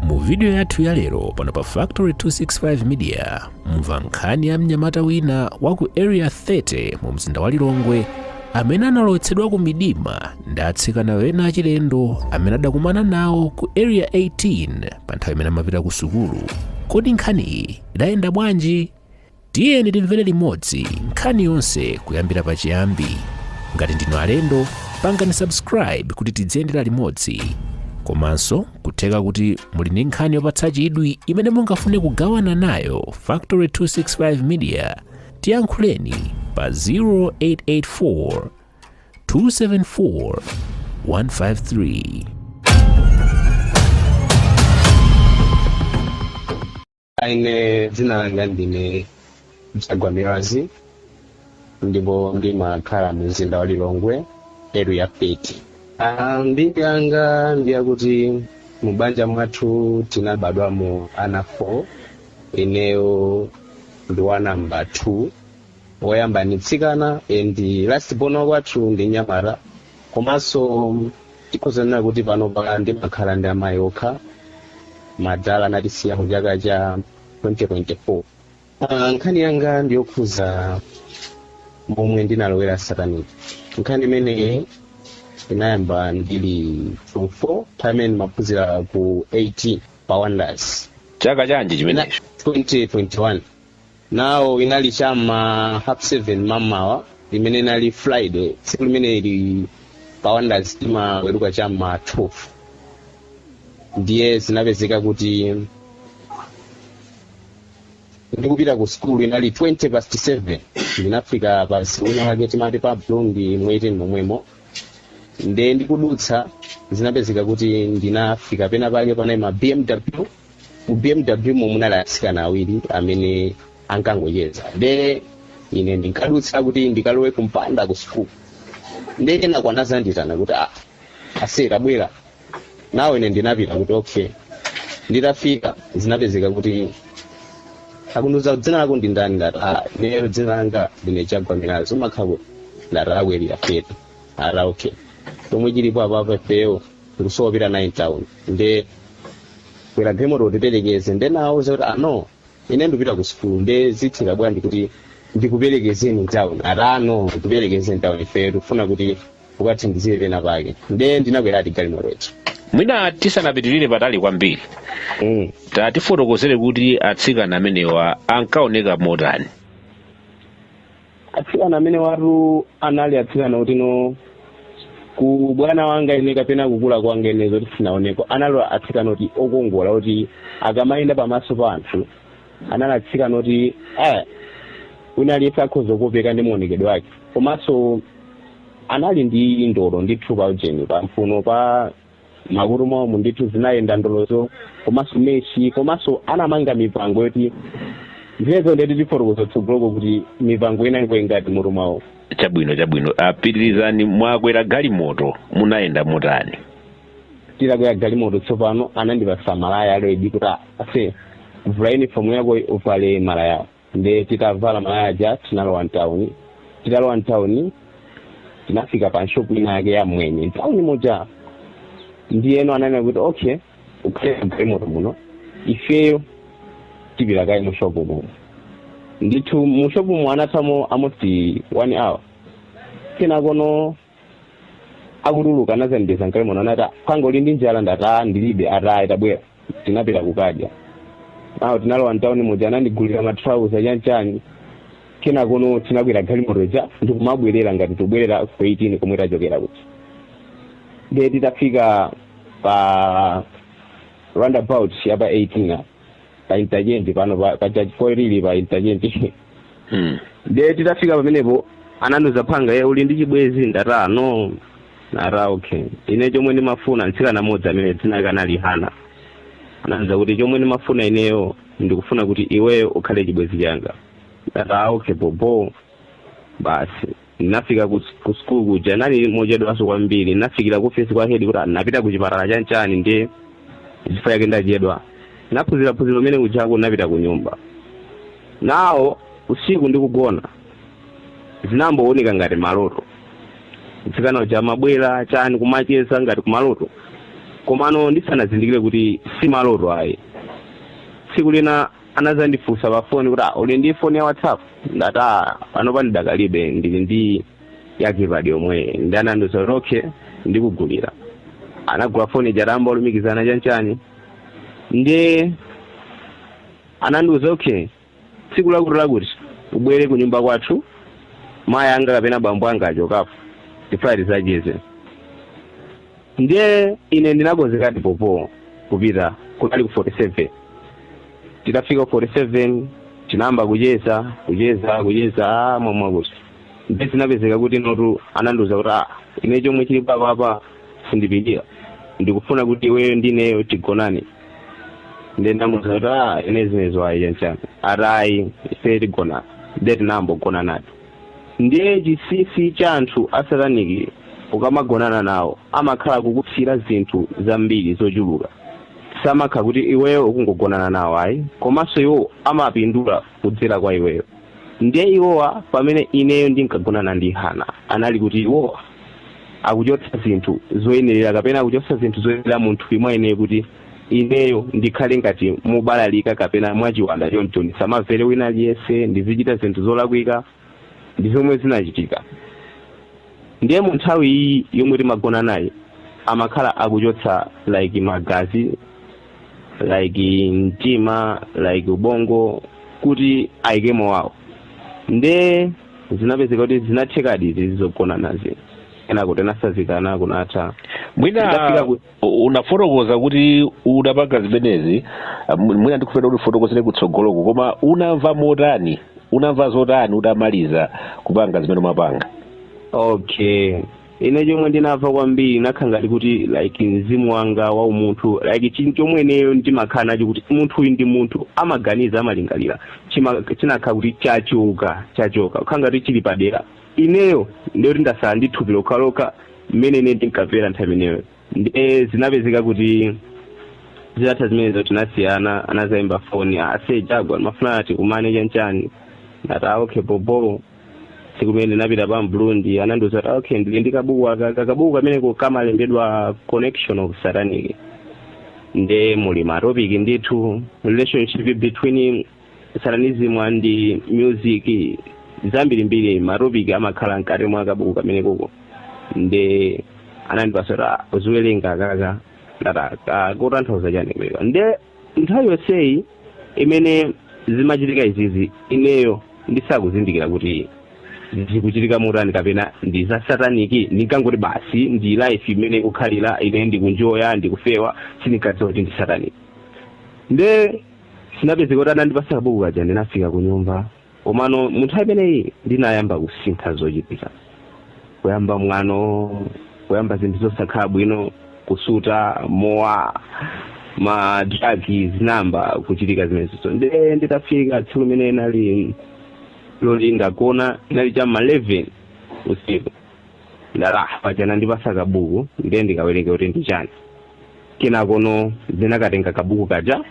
mu vidiyo yathu ya lero pano pa factory 265 media mumva nkhani ya mnyamata wina wa ku area 30 mu mzinda wa lilongwe amene analowetsedwa ku midima ndi atsikana ena achilendo amene adakumana nawo ku area 18 pa nthawi imene amapita ku sukulu kodi nkhaniyi idayenda bwanji tiyeni timvere limodzi nkhani yonse kuyambira pachiyambi ngati ndinu alendo pangani subscribe kuti tidziyendera limodzi komanso kutheka kuti muli ndi nkhani yopatsa chidwi imene mungafune kugawana nayo factory 265 media tiyankhuleni pa 0884 274 153 Ine dzina langa ndine Chagwa Milazi ndipo ndimakhala mu mzinda wa Lilongwe area 30. Ah, mbiri yanga ndi yakuti mu banja mwathu tinabadwamo ana 4 ineyo ndi wa namba 2 woyamba ndi mtsikana and last born kwathu ndi mnyamata komanso Tikhoza kunena kuti panopa ndimakhala ndi amayi okha. Madala anatisiya mu chaka cha 2024. Ah, nkhani yanga ndi yokhuza momwe ndinalowera sataniki. Nkhani imeneyi inayamba ndili form 4 nthawi imene ndimaphunzira ku 18 pa Wonders. Chaka chanji chimenecho? 2021. now inali cha ma half 7 mamawa imene inali friday tsiku limene ili pa wonders timaweruka cha ma 12 ndiye zinapezeka kuti ndikupita ku skulu inali 20 past 7 ndinafika pa street ina yake timati pa blondi mu 18 momwemo nde ndikudutsa zinapezeka kuti ndinafika pena pake panali ma bmw mu bmw mo munali atsikana awiri amene ankangocheza nde ine ndinkadutsa kuti ndikalowe kumpanda ku sukulu nde kenako anazanditana kuti ah, ase tabwera now ine ndinapita kuti okay nditafika zinapezeka kuti akundiuza dzina lako ndi ndani ndati ah, ineyo dzina langa ndine chagwa milazi umakhala kuti ndati ah ku area 30 ati okay chomwe chilipo apapo ifeyo tikusowa opita naye mtown nde kwera galimoto utiperekeze nde nawauza kuti ah no ine ndipita ku sukulu nde zitheka bwanji kuti ndikuperekezeni mtown ati ah no utiperekeze mtown ifeyo tikufuna kuti ukatithandizire pena pake nde ndinakweradi galimotoyo mwina tisanapitirire patali kwambiri mm. tatifotokozere kuti atsikana amenewa ankaoneka motani atsikana amene watu anali atsikana oti no kubadwa wanga ine kapena kukula kwanga ine zoti sinaoneko anali atsikana oti okongola oti akamayenda pamaso pa anthu anali atsikana oti eh, wina aliyense akhoza kukopeka ndi maonekedwe wake komanso anali ndi ndolo ndi ti ujeni pamfuno pa makutu mwawomu ndithu zinayenda ndolozo komanso mechi komanso anamanga mipango yoti zinazo nde ti fotokoza tsogoloko kuti mipango inangokhala ngati mmutu mwawo chabwino chabwino apitirizani mwakwera galimoto munayenda motani titakwera galimoto tsopano anandipasa malaya already kuti ase vula uniform yako uvale malaya nde titavala malaya aja tinalowa mtauni titalowa mtauni tinafika pa shopu ina yake ya mmwenye mtauni moja ndiyeno ananena kuti okay ukhale mgalimoto muno ifeyo tipita kaye mushopu muno ndithu mushopu mu anathamo amoti one hour kenakono akutuluka anazandipeza mgalimoto anati mphwanga uli ndi njala ndati aa ndilibe ata iyayi tabwera tinapita kukadya nawo tinalowa mtawuni muja anandigulira matrauza chanchani kenakono tinakwera galimoto ija ndikumabwerera ngati tubwerera ku 18 komwe tachokera kuti ndiye titafika pa roundabout ya pa 18 apa pa interchange pano pa- pa church point ili pa interchange Mm. ndiye titafika pamenepo anandiuza mphwanga iwe uli ndi chibwenzi ndata no nata okay ine chomwe ndimafuna mtsikana mmodzi amene dzina lake anali hana anandiuza kuti chomwe ndimafuna ineyo ndikufuna kuti iweyo ukhale chibwenzi changa ndata okay bobo basi Ndinafika ku s- ku school kuja kunali mochedwanso kwambiri. Ndinafikira ku office kwa head kuti ndinapita ku chipatala chanchani ndiye chifukwa chake ndachedwa. Ndinaphunziraphunzira mmene kujako ndinapita ku nyumba. Nawo usiku ndikugona zinangooneka ngati maloto. Mtsikana uja amabwera chani kumacheza ngati kumaloto. Komano ndisanazindikire kuti si maloto ayi. Tsiku lina anadzandifunsa pa foni kuti "Ah, uli ndi foni ya whatsapp ndati "Ah, panopa ndidakalibe ndili ndi yakipadi yomweyi nde anandiuza kuti okay ndikugulira anagula foni ija tayamba kulumikizana chanchani ndiye anandiuza okay tsiku lakuti lakuti ubwere ku nyumba kwathu mayi anga kapena bambo anga achokapo tifuna tizacheze Ndiye ine ndinakonzekadi bobo kupita kunali ku 47 titafika 47 tinayamba kucheza kucheza kucheza ah, mwamwakuti ndiye zinapezeka kuti notu anandiuza kuti ah, ine chomwe chili papapa sindipitira ndikufuna kuti iweyo ndineyo tigonane ndiye ndamuuza kuti ah, ine zimenezo ayi chanchani ati ayi ife tigonana ndiye tinayamba kugonanadi Ndiye chinsinsi cha anthu a satanic ukamagonana nawo amakhala akukutsira zinthu zambiri zochuluka samakha kuti iweyo ukungogonana nawo ayi komanso iwo amapindula kudzera kwa iweyo ndiye iwowa pamene ineyo ndinkagonana ndi hana anali kuti iwowa akuchotsa zinthu zoyenerera kapena akuchotsa zinthu zoyenera mu thupi mwa ineyo kuti ineyo ndikhale ngati wobalalika kapena mwachiwanda choncho ndisamamvere wina aliyense ndizichita zinthu zolakwika ndi zomwe zinachitika ndiye mu nthawi iyi yomwe timagona naye amakhala akuchotsa like magazi like mtima like ubongo kuti ayikemo wawo nde zinapezeka kuti zinathekadi izi zogonanazi kenako tinasazikana kunatha mwina U- unafotokoza kuti unapanga zimenezi ah, mw- mwina ndikufuna kuti ufotokozere kutsogoloko koma unamva motani unamva zotani utamaliza kupanga zimene umapanga okay ine chomwe ndinamva kwambiri ndinakhala ngati kuti like mzimu wanga wa umunthu like chinthu chomwe ineyo ndimakhala nacho kuti munthu uyu ndi munthu amaganiza amalingalira Chima- chinakhala kuti chachoka chachoka kukhala ngati chili padera Ineyo ndiye kuti ndasala ndi thupi lokhalokha mmene ine ndinkamvera nthawi imeneyo ndiye zinapezeka kuti zitatha zimenezo tinasiyana anazayimba foni ase Jagwa ndimafuna tikumane chanchani ndati "Ah, okay bobo tsiku limene ndinapita pa Burundi anandiuza kuti "Ah, okay ndili ndi kabuku aka Ka- kabuku kameneko kamalembedwa connection of satanic nde muli matopiki ndithu relationship between satanism and music zambirimbiri matopic amakhala mkati mwa kabuku kamenekoko nde anandipasa ati uziwerenga kaka ndati kakutanthauza chani kumenewa nde nthawi yonseyi imene zimachitika izizi ineyo ndisakuzindikira kuti zikuchitika motani kapena ndi za sataniki ndinkangoti basi ndi life imene ikukhalira ine ndiku-enjoya ndikufewa sindinkadziwa kuti ndi sataniki nde Zinapezeka kuti anandipatsa kabuku kaja ndinafika kunyumba komano mu nthawi imeneyi ndinayamba kusintha zochitika kuyamba mwano kuyamba zinthu zosakhala bwino kusuta mowa ma drugs zinayamba kuchitika zimenezizo nde nditafika tsiku limene inali loti ndagona inali cha ma 11 usiku Ndati, ah, paja anandipatsa kabuku ndiye ndikawerenge kuti ndi chani. Kenakono ndinakatenga kabuku kaja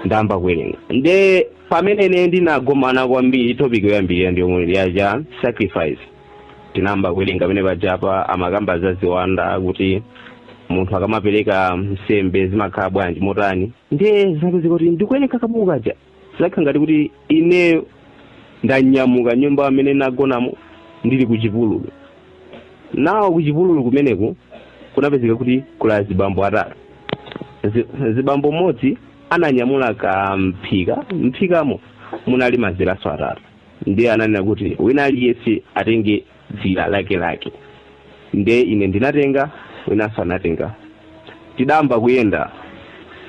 ndayamba kuwerenga. Ndiye pamene ine ndinagomana kwambiri topic yoyambirira ndi yomwe ija ya sacrifice. Ndinayamba kuwerenga pamene paja apa amakamba za ziwanda kuti munthu akamapereka nsembe zimakhala bwanji motani. Ndiye zinapezeka kuti ndikuwerenga kabuku kaja zinakhala ngati kuti ineyo ndanyamuka nyumba imene nagonamo ndili ku chipululu nawo ku chipululu kumeneku kunapezeka kuti kuli azibambo atatu mzibambo mmodzi ananyamula ka mphika mphikamo munali maziranso atatu ndiye ananena kuti wina aliyense atenge dzira lakelake nde ine ndinatenga winanso anatenga tidayamba kuyenda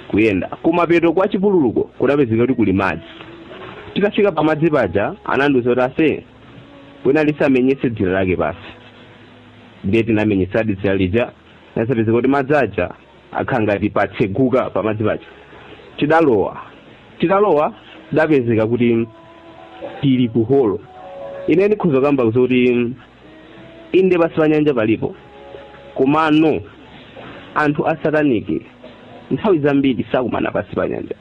kuyenda kumapeto kwa chipululuko kudapezeka kuti kuli madzi titafika pamadzi paja anandiuza kuti onse wina aliyense amenyetse dzira lake pansi ndiye tinamenyetsadi dzira lija nde zapezeka kuti madzi aja akhala ngati patseguka pamadzi paja tidalowa titalowa tidapezeka kuti tili ku holo ine ndikhoza kukamba kuti inde pansi pa nyanja palipo komano anthu asataniki nthawi zambiri sakumana pansi pa nyanja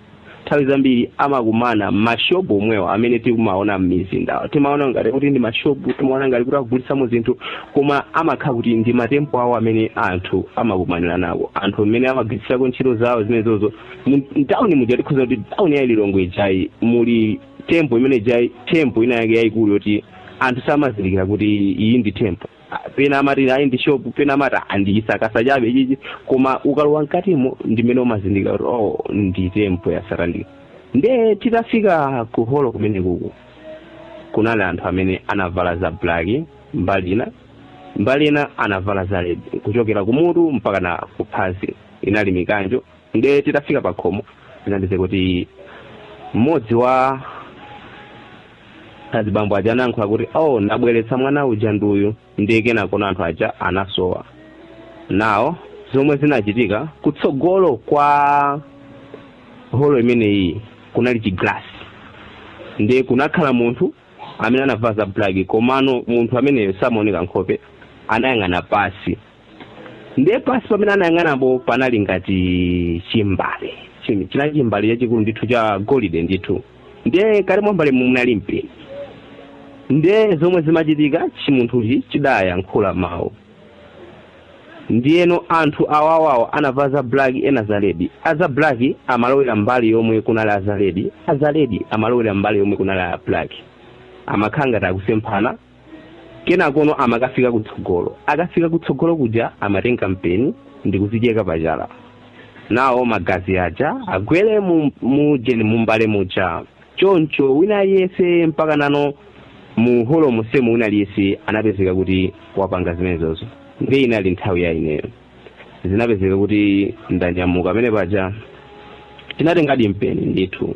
nthawi zambiri amakumana mashopu omwewa amene timaona m'mizindamu timaona ngati kuti ndi mashopu timaona ngati kuti akugulitsamo zinthu koma amakhala kuti ndi matempo awo amene anthu amakumanirako anthu amene amagwiritsirako ntchito zawo zimenezozo mtawuni muja tikhoza kuti tawuni ya lilongwe ijayi muli tempo imene ijayi tempo ina yake yayikulu yoti anthu samazindikira kuti iyi ndi tempo Ah, pena amati ayi ndi shop pena amati "Ah, ndi chisakasa chabe ichichi koma ukalowa mkatimo ndimene umazindikira kuti oh ndi tempo ya satanic nde titafika ku holo kumenekuku kunali anthu amene anavala za black mbali ina mbali ina anavala za red kuchokera kumutu mpaka na kuphazi inali mikanjo Ndiye titafika pakhomo zinachitika kuti mmodzi wa azibambo aja anayankhula kuti oh ndabweretsa mwana uja ndi uyu ndiye kenako anthu aja anasowa nao zomwe zinachitika kutsogolo kwa holo imeneyi kunali chiglasi ndiye kunakhala munthu amene anavala za black komano munthu ameneyo samaoneka nkhope anayang'ana pansi ndiye pansi pamene anayang'anapo panali ngati chimbale chinali chimbale chachikulu ndithu cha golide ndithu ndiye mkati mwa mbale munali mpeni ndiye zomwe zimachitika chimunthuchi chidayankhula mawu ndiyeno anthu awawawo anavala za black ena za ledi aza black amalowera mbali yomwe kunali aza ledi aza ledi amalowera mbali yomwe kunali a black amakhala ngati akusemphana kenakono amakafika kutsogolo akafika kutsogolo kuja amatenga mpeni ndikuzicheka pachala nawo magazi aja agwere mu- mujani mumbale muja choncho wina aliyese mpaka nano mu holo musemu wina aliyese anapezeka kuti wapanga zimenezozo ndi inali nthawi ya ineyo zinapezeka kuti ndanyamuka pamene paja tinatengadi mpeni ndithu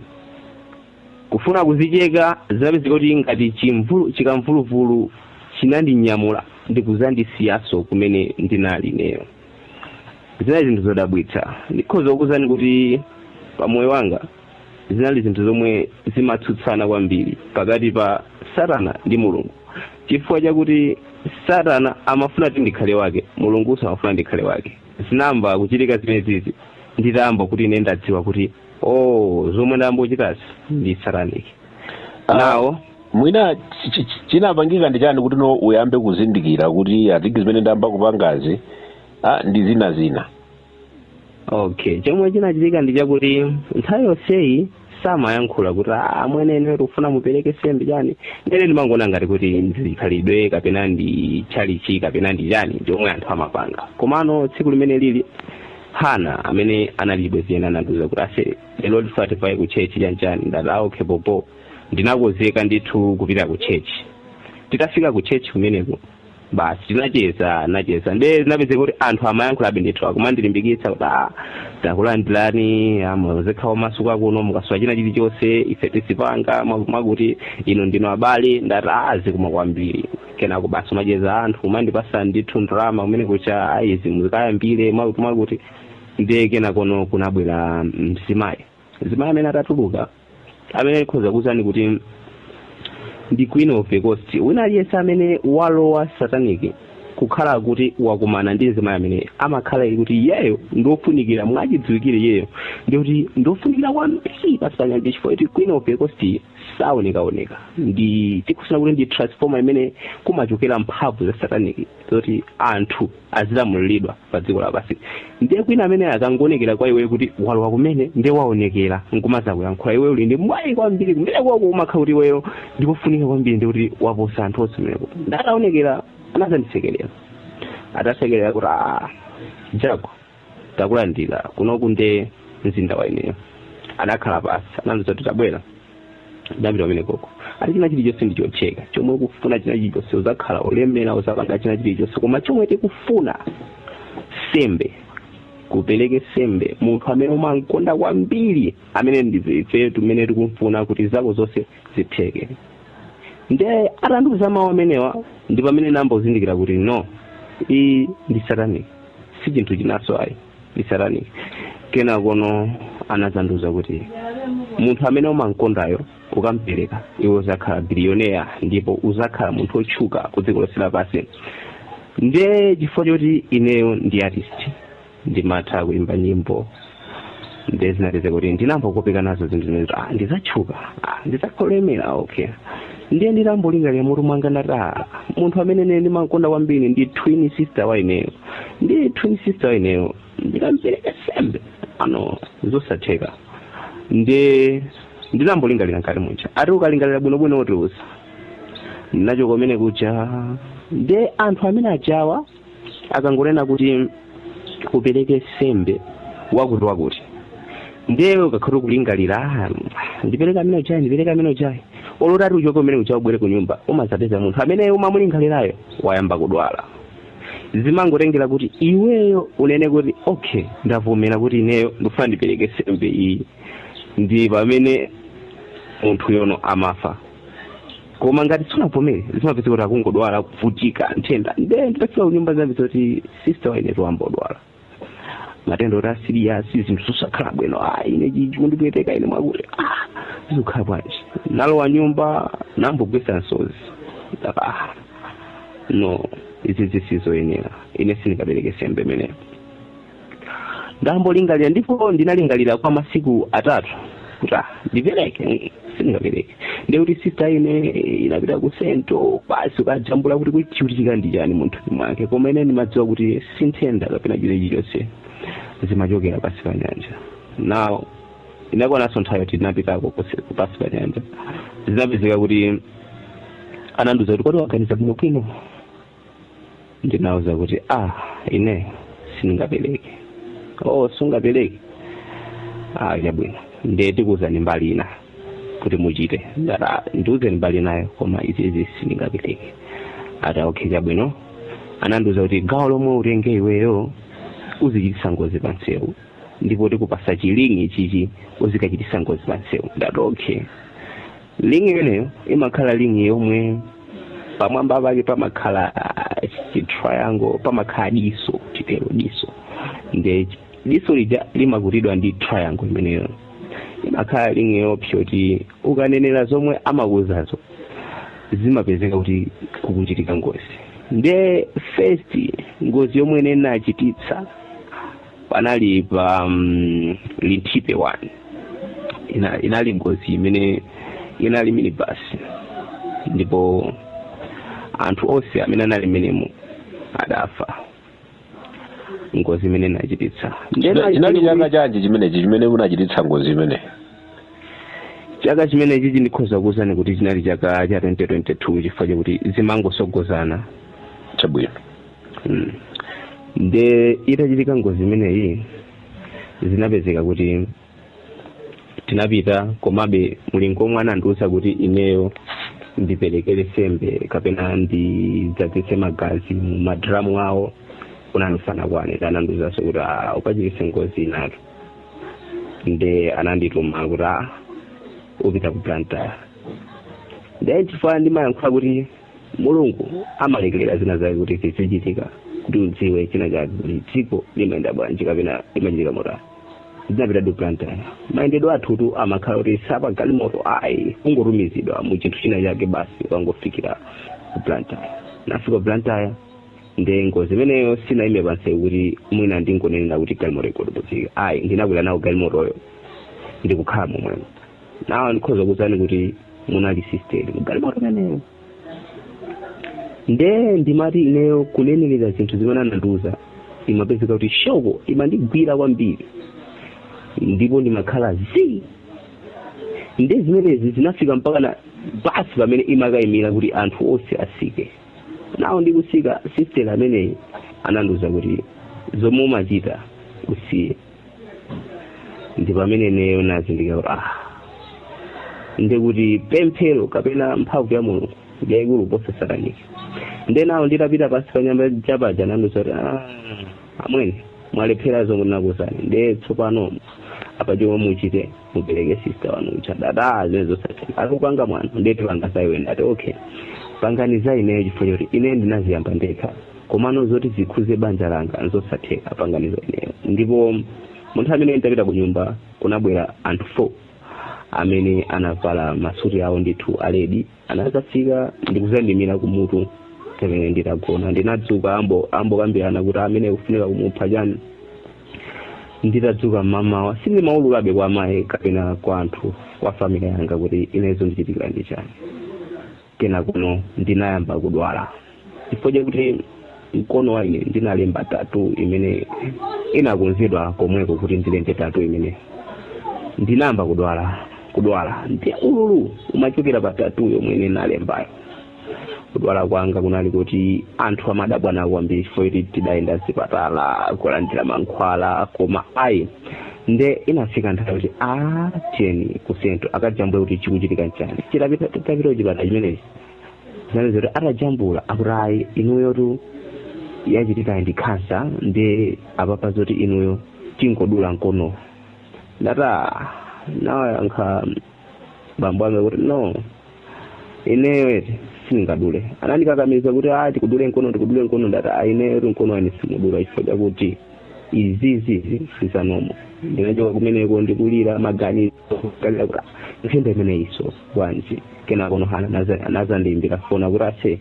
Kufuna kuzicheka, zinapezeka kuti ngati chimvulu, chikamvuluvulu chinandinyamula ndi kuzandisiyaso kumene ndinali ineyo. Zinali zinthu zodabwitsa. Ndikhoza kukuuzani kuti pa moyo wanga zinali zinthu zomwe zimatsutsana kwambiri pakati pa satana ndi Mulungu chifukwa chakuti satana amafuna kuti ndikhale wake, Mulungunso amafuna ndikhale wake. Zinayamba kuchitika zimenezizi nditayamba kuti ine ndadziwa kuti. oh zomwe ndayamba kuchitazi ndi satanic Ah. nawo mwina chi- chi- chi- chinapangika ndi chani kuti no uyambe kuzindikira kuti asitiki zimene ndayamba kupangazi ah, ndi zina zina okay chomwe chinachitika ndi chakuti nthawi yonseyi samayankhula kuti "Ah, amwene ine tikufuna mupereke sembe chani nde ine ndimangoona ngati kuti ndizikhalidwe kapena ndi tchalitchi kapena ndi chani chomwe anthu amapanga komano tsiku limene lili Hana amene anali chibwenzi changa anandiuza kuti ase lero tivaye ku tchetchi chani chani ndati okay bhobho ndinakonzeka ndithu kupita ku tchetchi titafika ku tchetchi kumeneko basi tinacheza nacheza nde zinapezeka kuti anthu amayankhulabe ndithu kumandilimbikitsa kuti a takulandirani muzikhala omasuka kuno mukasowa china chilichonse ife tizipanga mwakuti inu ndinu abale ndati a zikomo kwambiri kenako basi kumacheza anthu kumandipasa ndithu ndalama kumeneko kuti a izi muzikayambire mwakuti mwakuti ndiye kenakono kunabwera mzimayi mzimayi amene atatuluka amene ndikhoza kukuuzani kuti ndi queen of the coast wina aliyense amene walowa satanic akakhala kuti wakumana ndi mzimayi amene amakhala kuti iyeyo ndiofunikira mwachidziwikire iyeyo ndikuti ndiofunikira kwambiri pasi panyanja chifukwa kuti queen of the coast saonekaoneka ndi tikusana kuti ndi transformer imene kumachokera mphamvu za sataniki zoti anthu azilamuliridwa pa dziko lapansi ndiye kwina amene akangoonekera kwa iwe kuti walowa kumene ndiye waonekera nkumazakuyankhula iwe uli ndi mwayi kwambiri kumene kwako umakha kuti iweyo ndikufunika kwambiri ndi kuti waposa anthu onse kumeneko ndataonekera anazandisekerera atasekerera kuti "Ah, jago takulandira kunoku nde mzinda wa ineyo anakhala pasi anandiuza kuti tabwera ndapita pamene kuja ati china chilichonse ndichotheka chomwe ukufuna china chilichonse uzakhala olemera uzapanga china chilichonse koma chomwe tikufuna sembe upereke sembe munthu amene umamkonda kwambiri amene ndife timene tikumfuna kuti zako zonse zitheke nde atandiuza mawu amenewa ndi pamene nambozindikira kuti no iyi ndi satanic si chinthu chinanso ayi ndi satanic kenakono anazandiuza kuti munthu amene umamkondayo ukampereka iwe uzakhala bilioneya ndipo uzakhala munthu otchuka ku dziko lonse lapansi nde chifukwa choti ineyo ndi artist ndimatha kuimba nyimbo nde zinapeza kuti ndinambokopeka nazo zinthu zimenezo ah ndizatchuka ah ndizakhala olemera okay ndiye ndinambolingalira mutu mwanga ndati ah munthu amene ine ndimakonda kwambiri ndi twin sister wa ineyo ndi twin sister wa ineyo ndikampereka sembe ah no zosatheka nde ndinambolingalira nkati muja ati ukalingalira bwinobwino utiuza nachoka kumene kuja nde anthu amene ajawa akangonena kuti upereke sembe wakuti wakuti ndiye ukakhala kulingalira "Ah, ndipereka amene ujayi ndipereka amene ujayi olo utati uchoke kumene kuja ubwere ku nyumba umazapeza munthu amene umamulingalirayo wayamba kudwala zimangotengera kuti iweyo unene kuti okay ndavomera kuti ineyo ndikufuna ndipereke sembe iyi ndi pamene munthu yono amafa koma ngati sunavomere zimapezeka kuti akungodwala kuvutika nthenda nde nditafika kunyumba zinapezeka kuti sister wainetu wambodwala matenda oti a serious zinthu zosakhala bwino ah ine chikundipweteka ine mwakuti ah zikukhala bwanji nalowa nyumba nambogwesa nsozi ndaka ah no izi zisizoyenera ine sindikapereke sembe imeneyo ndambolingalira ndipo ndinalingalira kwa masiku atatu kuti ah, ndipereke sindingapereke ndiye kuti sista ine inapita ku sento basi kukajambula kuti chikuvutika ndi chani mthupi mwake koma ine ndimadziwa kuti si nthenda kapena china chilichonse zimachokera pasi pa nyanja now inakwananso nthawi yoti tinapitako kusi- kupasi pa nyanja zinapezeka kuti anandiuza kuti kodi waganiza bwinobwino ndinauza kuti ah ine sindingapereke oh sungapereke ah chabwino ndiye tikuuzani mbali ina kuti muchite ndati "Ah, ndiuzeni mbali inayo koma izizi sindingapereke ati okay chabwino anandiuza kuti gawo lomwe utenge iweyo uzichitisa ngozi pa msewu ndipo tikupasa chi ring chichi uzikachitisa ngozi pa msewu ndati okay ring imeneyo imakhala ring yomwe pamwamba pake pamakhala ah, chi triangle pamakhala diso chitero diso nde diso lija limakutidwa ndi triangle imeneyo imakhala ring yopsa kuti ukanenera zomwe amakuuzazo zimapezeka kuti kukuchitika ngozi nde first ngozi yomwe ine nachititsa panali pa Linthipe one inali ngozi imene inali minibus ndipo anthu onse amene anali menemo adafa ngozi imene inachititsa chinali chaka chanji chimenechi chimene munachititsa ngozi imeneyi chaka chimenechichi ndikhoza kuwuzani kuti chinali chaka cha 2022 chifukwa chakuti zimangosogozana chabwino Mm. nde itachitika ngozi imeneyi zinapezeka kuti tinapita komabe mulingo omwe anandiwuza kuti ineyo ndiperekere sembe kapena ndidzadzitse magazi mu madramu awo unali usanakwane anandiwuzanso kuti "Ah, ukachititse ngozi inatu nde anandituma kuti "Ah, upita ku Blantyre ndiye chifukwa ndimayankhula kuti mulungu amalekerera zina zake kuti zizichitika kuti udziwe china chake kuti dziko limayenda bwanji kapena limachitika motani ndinapita ku Blantyre mayendedwe athutu amakhala kuti si a pa galimoto ayi ungotumizidwa mu chinthu china chake basi ukangofikira ku Blantyre nafika ku Blantyre nde ngozi imeneyo sinayime pansewu kuti mwina ndingonenera kuti galimoto ikagudubuzike ayi ndinakwera nawo galimotoyo ndikukhala momwemo nawo ndikhoza kuwuzani kuti munali sisteri mgalimoto imeneyo nde ndimati ineyo kunenerera zinthu zimene anandiuza imapezeka kuti shoko imandigwira kwambiri ndipo ndimakhala zii nde zimenezi zinafika mpaka na basi pamene imakayimira kuti anthu onse asike nawo ndikusika sisteri ameneyi anandiuza kuti zomwe umachita usiye ndi pamene ineyo nazindikira kuti ah ndekuti pemphero kapena mphamvu ya mulungu ndiyayikulu kuposa sataniki nde nawo nditapita pansi pa nyanja paja anandiuza kuti ah amwene mwalephera zomwe ndinakuuzani nde tsopano apa chomwe muchite mupereke sista wanu uja ndati zimenezo zosatheka akuti ukupanga mwano nde tipanga za iwe ndati okay pangani za ineyo chifukwa choti ine ndinaziyamba ndekha komano zoti zikhuze banja langa nzosatheka pangani za ineyo ndipo munthu amene nditapita ku nyumba kunabwera anthu four amene anavala masuti awo ndithu a red anazafika ndikuzandimira kumutu pamene nditagona ndinadzuka akukambirana kuti ameneyu kufunika kumupha chani nditadzuka mmamawa sindimaululabe kwa mayi kapena kwa anthu a family yanga kuti ine zondichitikira ndi chani kenakono ndinayamba kudwala chifukwa chakuti mkono wa ine ndinalemba tattoo imene inakonzedwa komweko kuti ndilembe tattoo imene ndinayamba kudwala kudwala ndi ululu umachokera pa tattoo yomwe ine nalembayo kudwala kwanga kunali kuti anthu amadabwa nawo kwambiri chifukwa choti tidayenda zipatala kulandira mankhwala koma ayi nde inafika nthawi kuti a tiyeni ku Central akajambule kuti chikuchitika nchani chitapita tapita kuchipatala chimenechi zinali zoti atajambula akuti ayi inuyotu yachitikayi ndi khansa ndi apapa zoti inuyo tingodula mkono ndipo anawayankha bambo anga kuti no ineyo eti sindingadule anandikakamiza kuti a tikudule mkono tikudule mkono ndati a ineyo eti mkono wa ine simudula chifukwa chakuti izizi sizanomo ndinachoka kumeneko ndikulira maganizo kalira kuti zikhala zimenezo bwanji kenako nohana naza- anadzandiimbira foni kuti aise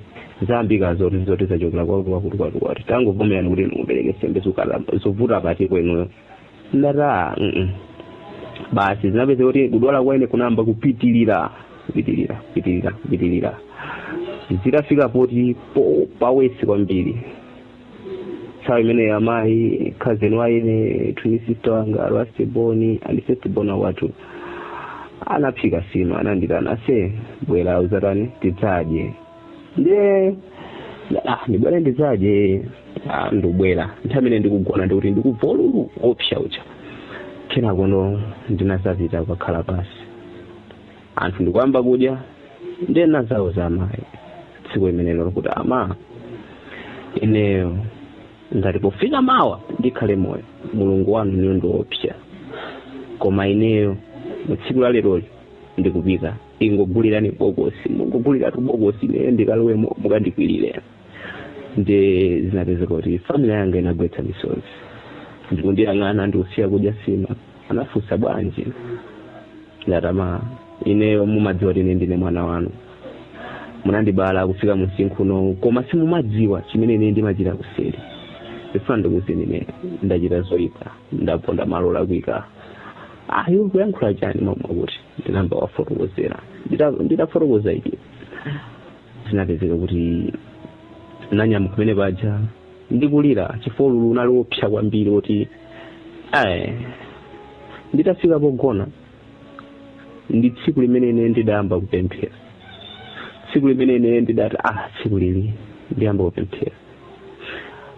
zamveka zoti zoti zachokera kwakuti kwakuti kwakuti tangovomerani kuti ndikubereke sembe zovuta pati kwenu ndata mm -mm. basi zinapeza kuti kudwala kwaine kunayamba kupitilira kupitilira kupitilira kupitilira zitafika poti po- pawesi kwambiri nthawi imeneyo amayi cousin waine twin sister wanga a last born and first born wathu anaphika sima anandiitana aise bwera uzatani tidzadye ndiye ah ndibwere ndidzadye ah ndibwera nthawi imene ndikugona ndikuti ndikubva ululu wopsa uja kenakono ndinazapita kukakhala pasi anthu ndikuyamba kudya ndiye nazawauza amayi tsiku limenelo kuti ama ineyo ngati pofika mawa ndikhale moyo mulungu wanu inuyo ndiopsa koma ineyo mu tsiku la leroli ndikupita mungogulirani bokosi mungoguliratu bokosi ine ndikalowemo mukandikwirire nde zinapezeka kuti family yanga inagwetsa misozi ndikundiyang'ana ndikusiya kudya sima anafunsa bwanji ndati ama ineyo mumadziwa kuti ine ndine mwana wanu munandibala kufika msinkhu unowu koma simumadziwa chimene ine ndimachita kuseri ndifuna ndikuuzeni ine ndachita zoyipa ndaponda malo olakwika iwe ukuyankhula chani mmwa akuti ndinayamba wafotokozera Ndita- nditafotokoza eti zinapezeka kuti nanyamuka mmene paja ndikulira chifukwa ululu unali wopsa kwambiri kuti ayi nditafika pogona ndi tsiku limene ine ndidayamba kupemphera tsiku limene ine ndidati ah tsiku ili ndiyamba kupemphera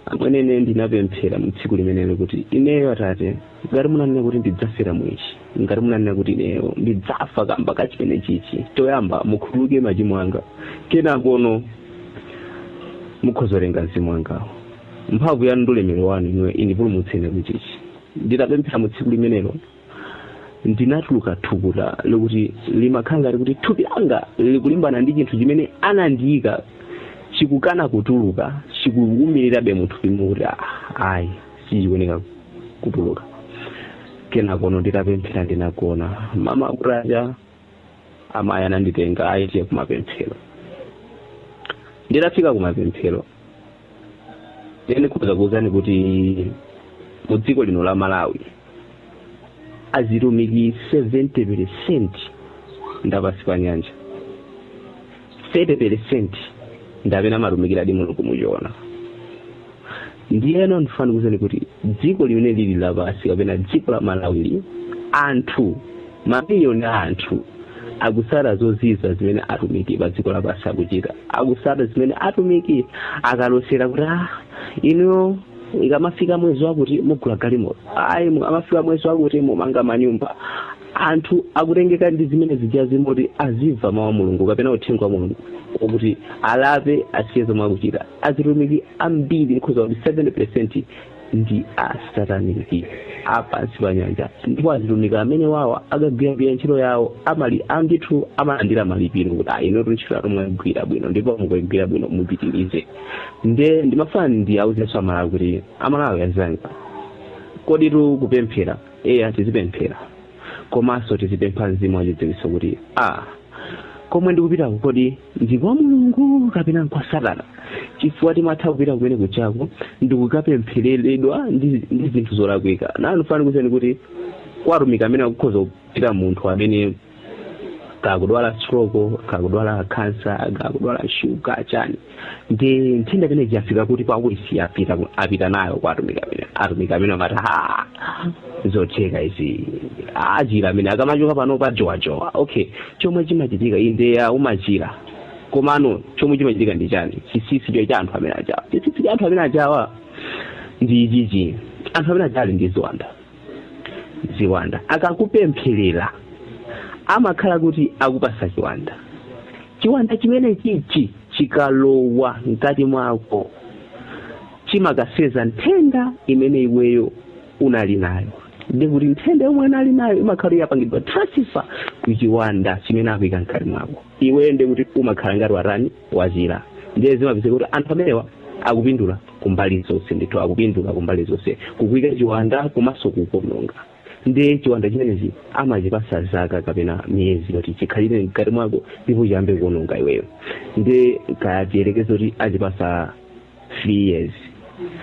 amwene ine ndinapemphera mu tsiku limenelo kuti ineyo atate ngati munanena kuti ndidzafera mu ichi ngati munanena kuti ineyo ndidzafa kamba ka chimene chichi choyamba mukhululuke machimo anga kenakono mukhozolenga mzimu wangawo mphamvu yanu ndi ulemerero wanu inuyo indipulumutseni kuchichi nditapemphera mu tsiku limenelo ndinatuluka thukuta lokuti limakhala ngati kuti thupi langa likulimbana ndi chinthu chimene anandiyika chikukana kutuluka chikuwumirirabe muthupimo kuti ayi sichikuoneka kutuluka kenakono nditapemphera ndinagona mmawa kutacha amayi ananditenga aah tiye kumapemphero nditafika kumapemphero ine ndikhoza kuwuzani kuti mu dziko lino la malawi azitumiki 70 peresenti ndapansi pa nyanja 30 peresenti nde amene amatumikiradi mulungu muchoona ndiyeno ndifuna ndikuwuzeni kuti dziko limeneli lapansi kapena dziko la malawili anthu mamiliyoni a anthu akusata zozizwa zimene atumiki pa dziko lapansi akuchita akusata zimene atumiki akalosera kuti ah inuyo ikamafika mwezi wakuti mugula galimoto ayi mukamafika mwezi wakuti mumanga manyumba anthu akutengeka ndi zimene zijazi mmalo moti azimva mawu a mulungu kapena uthenga wa mulungu okuti alape asiye zomwe akuchita azitumiki ambiri nkhuza kuti 70 percent ndi asataniki apansi pa nyanja ndipo azitumiki amenewawa akagwira bwino ntchito yawo amalandira ndithu amalandira malipiro kuti ayi inutu ntchito yanu mwagwira bwino ndipo mukaigwira bwino mupitirize nde ndimafuna ndiwauzenso amalawi kuti amalawi azanga koditu kupemphera eya tizipemphera komanso tizipempha mzimu wachidziwitso kuti a komwe ndikupitako kodi ndi kwa mulungu kapena nkwa satana chifukwa timatha kupita kumene kuchako ndikukapemphereredwa ndi zinthu zolakwika nde ndifuna ndikuuzeni kuti kwa atumiki amene akukhoza kupita munthu amene kaya akudwala stroke kaya akudwala kansa kaya akudwala shuga chani ndi nthenda imene ija yafika kuti paulisi yapita apita nayo kwa atumiki amene atumiki amene amati ha zotheka izi achira amene akamachoka panopa akujowajowa okay chomwe chimachitika inde eya umachira komano chomwe chimachitika ndi chani chisisi cho cha anthu amene ajawa chisisi cha anthu amene ajawa ndi ichichi anthu amene ajawa ali ndi ziwanda ziwanda akakupempherera amakhala kuti akupasa chiwanda chiwanda chimenechichi chikalowa mkati mwako chimakaseza nthenda imene iweyo unali nayo nde kuti nthenda yomwe unali nayo imakhala yapangidwa transfer ku chiwanda chimene akuika mkati mwako iweyo nde kuti umakhala ngati watani wazira ndiye zimapezeka kuti anthu amenewa akupindula kumbali zonse ndithu akupindula kumbali zonse kukuika chiwanda komanso kukuononga ndi chiwanda chimenechi amachipatsa zaka kapena miyezi yoti chikhalire mkati mwako ndipo chiyambe kuononga iweyo nde kaya tiyerekeze kuti achipatsa 3 years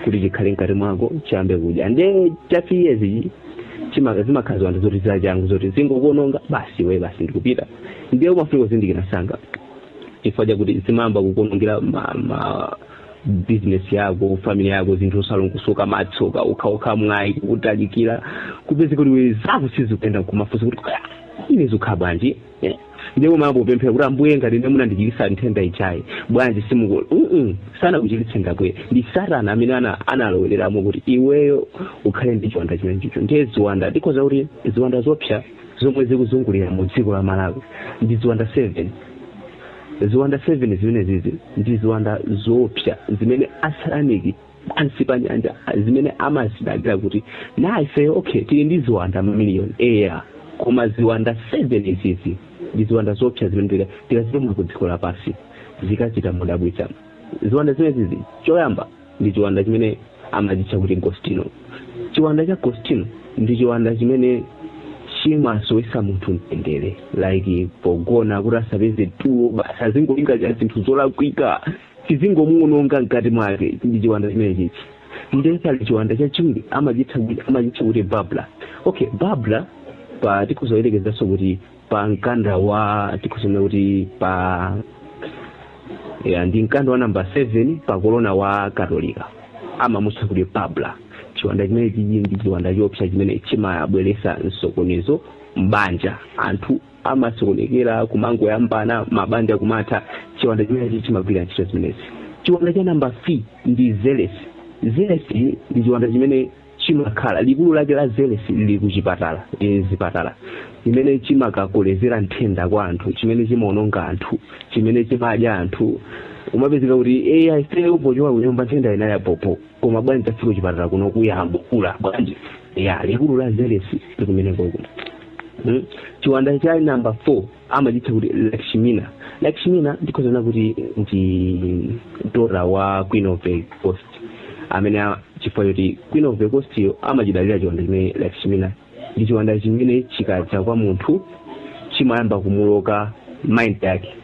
kuti chikhale mkati mwako chiyambe kudya nde cha 3 years ichi chima- zimakhala ziwanda zoti zachangu zoti zingokuononga basi iwe basi ndikupita ndiye umafunika kuzindikira msanga chifukwa chakuti zimayamba kukuonongera ma, ma business yako family yako zinthu osalongosoka matsoka okhaokha mwayi kukutalikira kupeza kuti iwe zako sizikuyenda kumafunsa kuti "Ah, ine zikhala bwanji eh? ndiye umayamba kupemphera kuti ambuye ngati ndinu munandichiritsa nthenda ichayi bwanji simuku mm sanakuchiritse ngakwe ndi satana amene ana- analowereramo kuti iweyo ukhale ndi chiwanda chimenechicho ndiye ziwanda ndikuuza kuti ziwanda zoopsa zomwe zikuzungulira mu dziko la malawi ndi ziwanda seven ziwanda seven zimenezizi ndi ziwanda zoopsa zimene asataniki pansi pa nyanja zimene amazidalira kuti na ifeyo okay tili ndi ziwanda mamiliyoni eya koma ziwanda seven izizi ndi ziwanda zoopsa zimene tika- tikazituma ku dziko lapansi zikachita modabwitsa ziwanda zimenezizi choyamba ndi chiwanda chimene amachitcha kuti gostino chiwanda cha gostino ndi chiwanda chimene chimasowesa munthu mtendere like pogona kuti asapeze tulo basi azingolingalira zinthu zolakwika chizingomuwononga mkati mwake ndi chiwanda chimenechi nde pali chiwanda chachiwiri amachitcha kuti- amachitcha kuti babla okay babla pa tikuzoyerekezanso kuti pa mkanda wa tikusema kuti pa ya ndi mkanda wa namba 7 pa kolona wa katolika amamutcha kuti babla chiwanda chimenechichi ndi chiwanda choopsa chimene chimabweretsa msokonezo mbanja anthu amasokonekera kumangoyambana mabanja kumatha chiwanda chimenechi chimagwira ntchito zimenezi chiwanda cha namba 3 ndi zelesi zelesi ndi chiwanda chimene chimakhala likulu lake la zelesi lili kuchipatala e, zipatala chimene chimakakolezera nthenda kwa anthu chimene chimaononga anthu chimene chimadya anthu umapezeka kuti eya ife pochoka kunyumba nthenda inali ya bhobho koma bwanji tafika kuchipatala kuno kuyambo kukula bwanji ya likulu la zelesi lili kumenekoko Mm. chiwanda cha namba 4 amachitcha kuti lakshmina lakshmina ndikhozana kuti ndi daughter wa queen of the coast amene a- chifukwa choti queen of the coast yo amachidalira chiwanda chimene lakshmina ndi chiwanda chimene chikadza kwa munthu chimayamba kumuloka mind yake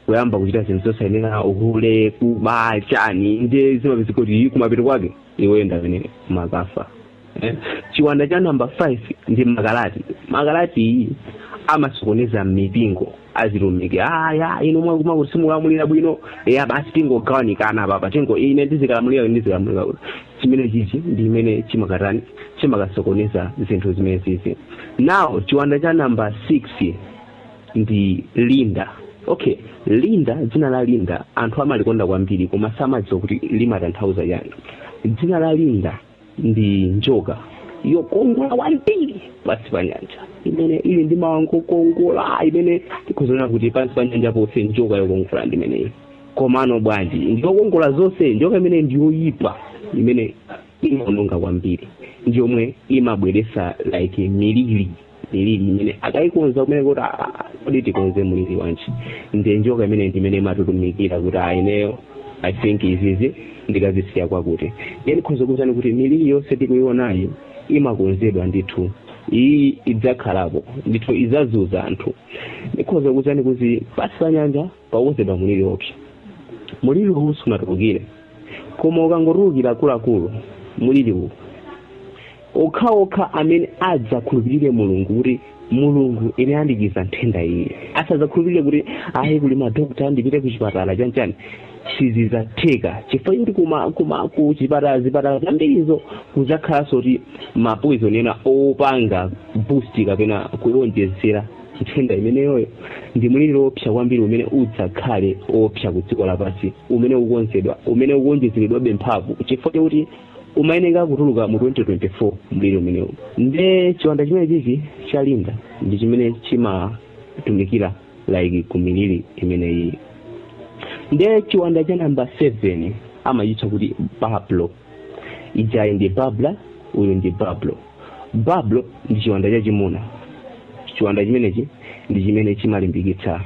kuyamba kuchita zinthu zosayenera uhule kuba chani ndiye zimapezeka kuti kumapeto kwake iwe ndamene makafa Eh, chiwanda cha namba 5 ndi makalati makalati uyu amasokoneza mmipingo azitumiki aya inu mwakuti kuti simulamulira bwino ah basi tingogawanikana apa tingo ine ndizikalamulira ine ndizikalamulira kuti chimene chichi ndi chimene chimakatani chimakasokoneza zinthu zimene zizi now chiwanda cha namba 6 ndi linda okay linda dzina la linda anthu amalikonda kwambiri koma samadziwa kuti limatanthauza chani dzina la linda ndi njoka yokongola kwambiri pansi pa nyanja imene ili ndi maanga okongola imene tikuona kuti pansi pa nyanja ponse njoka yokongola ndi imeneyi komano bwanji ndiyokongola zonse njoka imene ndiyoyipa imene imaononga kwambiri ndiyomwe imabweresa like miliri miliri imene akaikonza kumene kuti "Ah, ah, kodi tikonze muliri wanji ndi njoka imene ndimene imatumikira kuti ah ineyo i think izizi ndikazisiya kwakuti nde ndikhoza kukuuzani kuti miliri yonse tikuionayo imakonzedwa ndithu iyi idzakhalapo ndithu idzazunza anthu ndikhoza kukuuzani kuti pasi pa nyanja pakukonzedwa mliri woopsa mliriwu sunatulukire koma ukangotulukira akuluakulu mliriwu okhaokha amene adzakhulupirire mulungu kuti mulungu ine andichiza nthenda iyi asadzakhulupirire kuti ayi kuli madokta ndipite ku chipatala chanchani sizizatheka chifukwa kuti kuma kuma ku chipatala zipatala zambirizo kudzakhalanso kuti mapoison ena opanga boost kapena kuwonjezera nthenda imeneyoyo ndi mliri woopsa kwambiri umene udzakhale woopsa ku dziko lapansi umene ukukonzedwa umene ukuwonjezeredwabe mphamvu chifukwa chakuti umayeneka kutuluka mu 2024 mliri umenewu nde chiwanda chimene chichi cha linda ndi chimene chimatumikira like ku miliri imeneyi nde chiwanda cha namba 7 amachitcha kuti bablo ijayi ndi babla uyu ndi bablo Bablo ndi chiwanda chachimuna. Chiwanda chimenechi ndi chimene chimalimbikitsa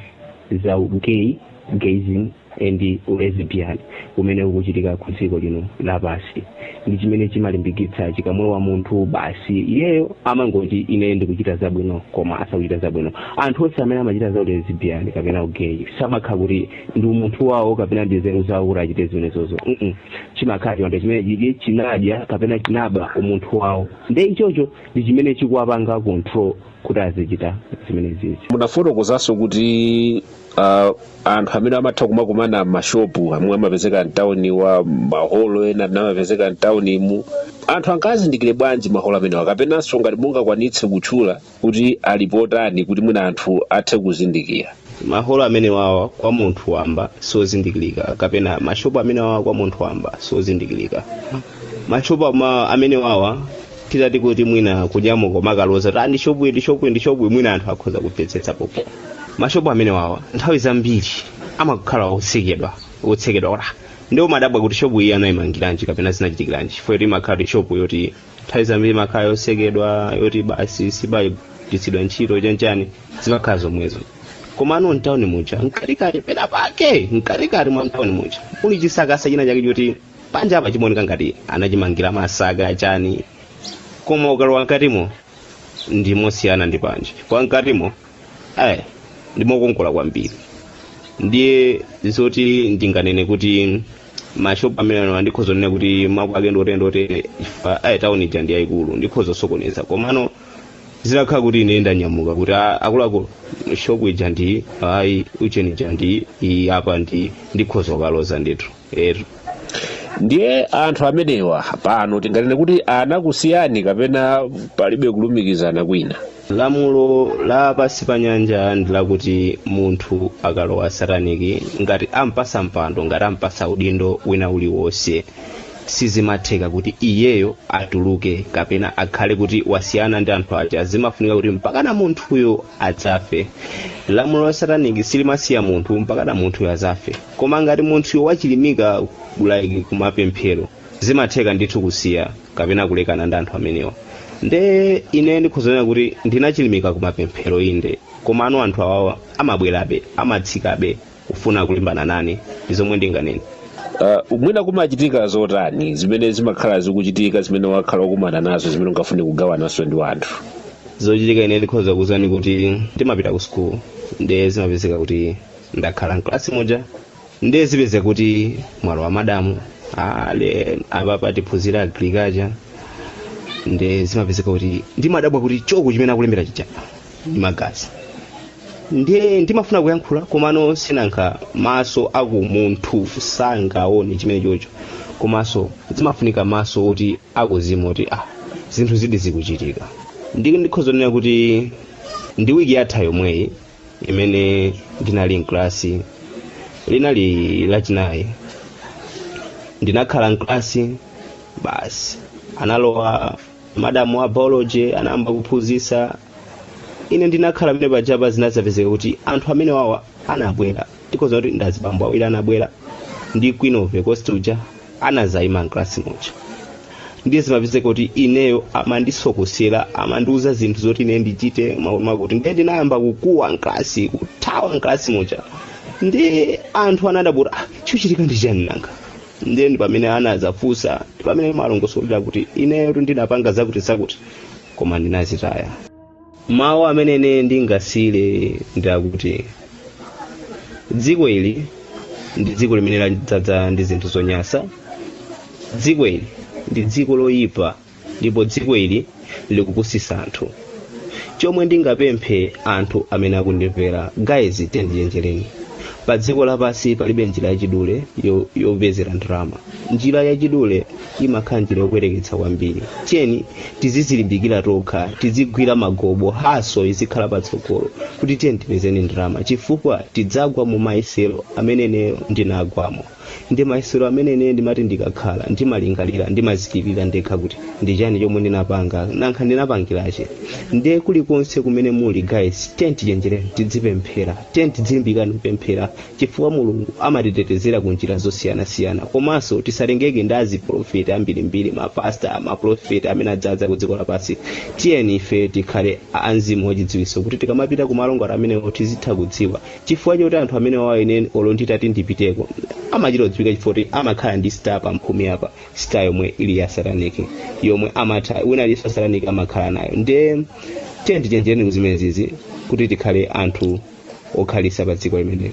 za ugay, gayism and ulesbian umene ukuchitika ku dziko lino lapansi. Ndi chimene chimalimbikitsa chikamulowa munthu basi iyeyo amangoti ine ndikuchita zabwino koma asakuchita zabwino. Anthu onse amene amachita za ulesbian kapena ugay samakhala kuti ndi umunthu wawo kapena ndi nzeru zawo kuti achite zimenezozo mm chimakhala chiwanda chimene chidya chinadya kapena chinaba umunthu wawo nde ichocho ndi chimene chikuwapanga control kuti azichita zimenezizi munafotokozanso kuti uh, anthu amene amatha kumakumana mmashopu omwe amapezeka mtawuni wa maholo ena amene amapezeka mtawunimu anthu angazindikire bwanji maholo amenewa kapenanso ngati mungakwanitse kutchula kuti alipo tani kuti mwina anthu athe kuzindikira maholo amenewawa kwa munthu wamba siozindikirika kapena mashopu amenewawa kwa munthu wamba siozindikirika mashopu ama- amenewawa titati kuti mwina kunyamuka kumakaloza kuti ndi shopu ndi shopu ndi shopu mwina anthu akhoza kumvetsetsa koma mashopu amenewawa nthawi zambiri amakhala otsekedwa otsekedwa olo ndi umadabwa kuti shopu iyi anayimangiranji kapena zinachitikiranji chifukwa kuti imakhala kuti shopu yoti nthawi zambiri imakhala yotsekedwa yoti basi simagwiritsidwa ntchito chanchani zimakhala zomwezo komano m'tawuni muja mkatikati pena pake mkatikati mwa m'tawuni muja muli chisakasa china chake choti panja apa chimaoneka ngati anachimangira masaka chani koma ukalowa mkatimo ndimosiyana ndi panja kwa mkatimo ayi ndimokongola kwambiri ndiye zoti ndinganene kuti mashopu amenewa sindikhoza kunena kuti mapu ake ndotere otere chifukwa ayi tawuni ija ndi yayikulu ndikhoza kusokoneza komano zitakhala kuti ine ndanyamuka kuti "Ah, akuluakulu shopu ija ndi iyi butcha ija ndi iyi apa ndi ndikhoza kukaloza ndithu Eetu. ndiye anthu amenewa pano tinganene kuti anakusiyani kapena palibe kulumikizana kwina lamulo la pansi pa nyanja ndi lakuti munthu akalowa sataniki ngati ampasa mpando ngati ampasa udindo wina uliwonse sizimatheka kuti iyeyo atuluke kapena akhale kuti wasiyana ndi anthu aja zimafunika kuti mpakana munthuyo adzafe lamulo la sataniki silimasiya munthu mpakana munthuyo adzafe koma ngati munthuyo wachilimika like kumapemphero zimatheka ndithu kusiya kapena kulekana ndi anthu amenewa nde ine ndikhoza kunena kuti ndinachilimika kumapemphero inde komano anthu awawa amabwerabe amatsikabe kufuna kulimbana nane ndi zomwe ndinganene Uh, mwina kumachitika zotani zimene zimakhala zikuchitika zimene wakhala ukukumana nazo zimene ungafune kugawananso ndi wanthu zochitika ine ndikhoza kukuuzani kuti ndimapita ku school nde zimapezeka kuti ndakhala mkalasi muja ndiye zipezeka kuti mwalowa madamu aa apapa tiphunzira agriculture ndiye zimapezeka kuti ndimadabwa kuti choko chimene akulembera chija ndi magazi ndiye ndimafuna kuyankhula komano sinanga maso akumunthu sangaone chimenechocho komanso zimafunika maso oti akuzimu oti ah zinthu zizi zikuchitika ndi ndikhoza kunena kuti ndi wiki yatha yomweyi imene ndinali mkalasi linali lachinayi ndinakhala mkalasi basi analowa madamu a biology anayamba kuphunzitsa ine ndinakhala pamenepajapa zinadzapezeka kuti anthu amenewawa anabwera ndikhoza kuti ndazibambo awiri anabwera ndi queen of the coast uja anazayima mklasi muja ndiye zimapezeka kuti ineyo amandisokosera amandiuza zinthu zoti ine ndichite zakuti ndiye ndinayamba kukuwa mklasi kuthawa mklasi muja ndi anthu anadabwa "Ah, chachitika ndi chani nanga ndiye ndi pamene anazafunsa ndi pamene ndimalongosola kuti ineyo ndinapanga zakuti zakuti koma ndinazitaya mawu amene ine ndingasiyire ndi akuti dziko ili ndi dziko limene ladzadza ndi zinthu zonyansa dziko ili ndi dziko loyipa ndipo dziko ili likupusisa anthu chomwe ndingapemphe anthu amene akundimvera guys tiyeni tichenjereni pa dziko lapansi palibe njira yachidule yo- yopezera ndalama njira yachidule imakhala njira yokwereketsa kwambiri tiyeni tizizilimbikira tokha tizigwira magobo haso izikhala patsogolo kuti tiyeni tipezeni ndalama chifukwa tidzagwa mu mayesero amene ineyo ndinagwamo ndi mayesero amene ineyo ndimati ndikakhala ndimalingalira ndimadzilirira ndekha kuti ndi chani chomwe ndinapanga nanga ndinapangiranji ndiye kulikonse kumene muli guys tiyeni tichenjereni tidzipemphera tiyeni tidzilimbikirani kupemphera Chifukwa Mulungu amatitetezera ku njira zosiyanasiyana. Komanso tisatengeke ndi azipolofeti ambirimbiri, ma pastor, ma polofeti amene adzadza ku dziko lapansi. Tiyeni ifeyo tikhale a mzimu wachidziwitso kuti tikamapita ku malo ngati amenewo tizitha kudziwa chifukwa choti anthu amenewawo ine olo nditati ndipiteko amachita kudziwika chifukwa kuti amakhala ndi star pa mphumi apa star yomwe ili ya sataniki yomwe amatha wina aliyense wa sataniki amakhala nayo ndiye tiyeni tichenjereni kuzimenezizi kuti tikhale anthu okhalitsa pa dziko limeneli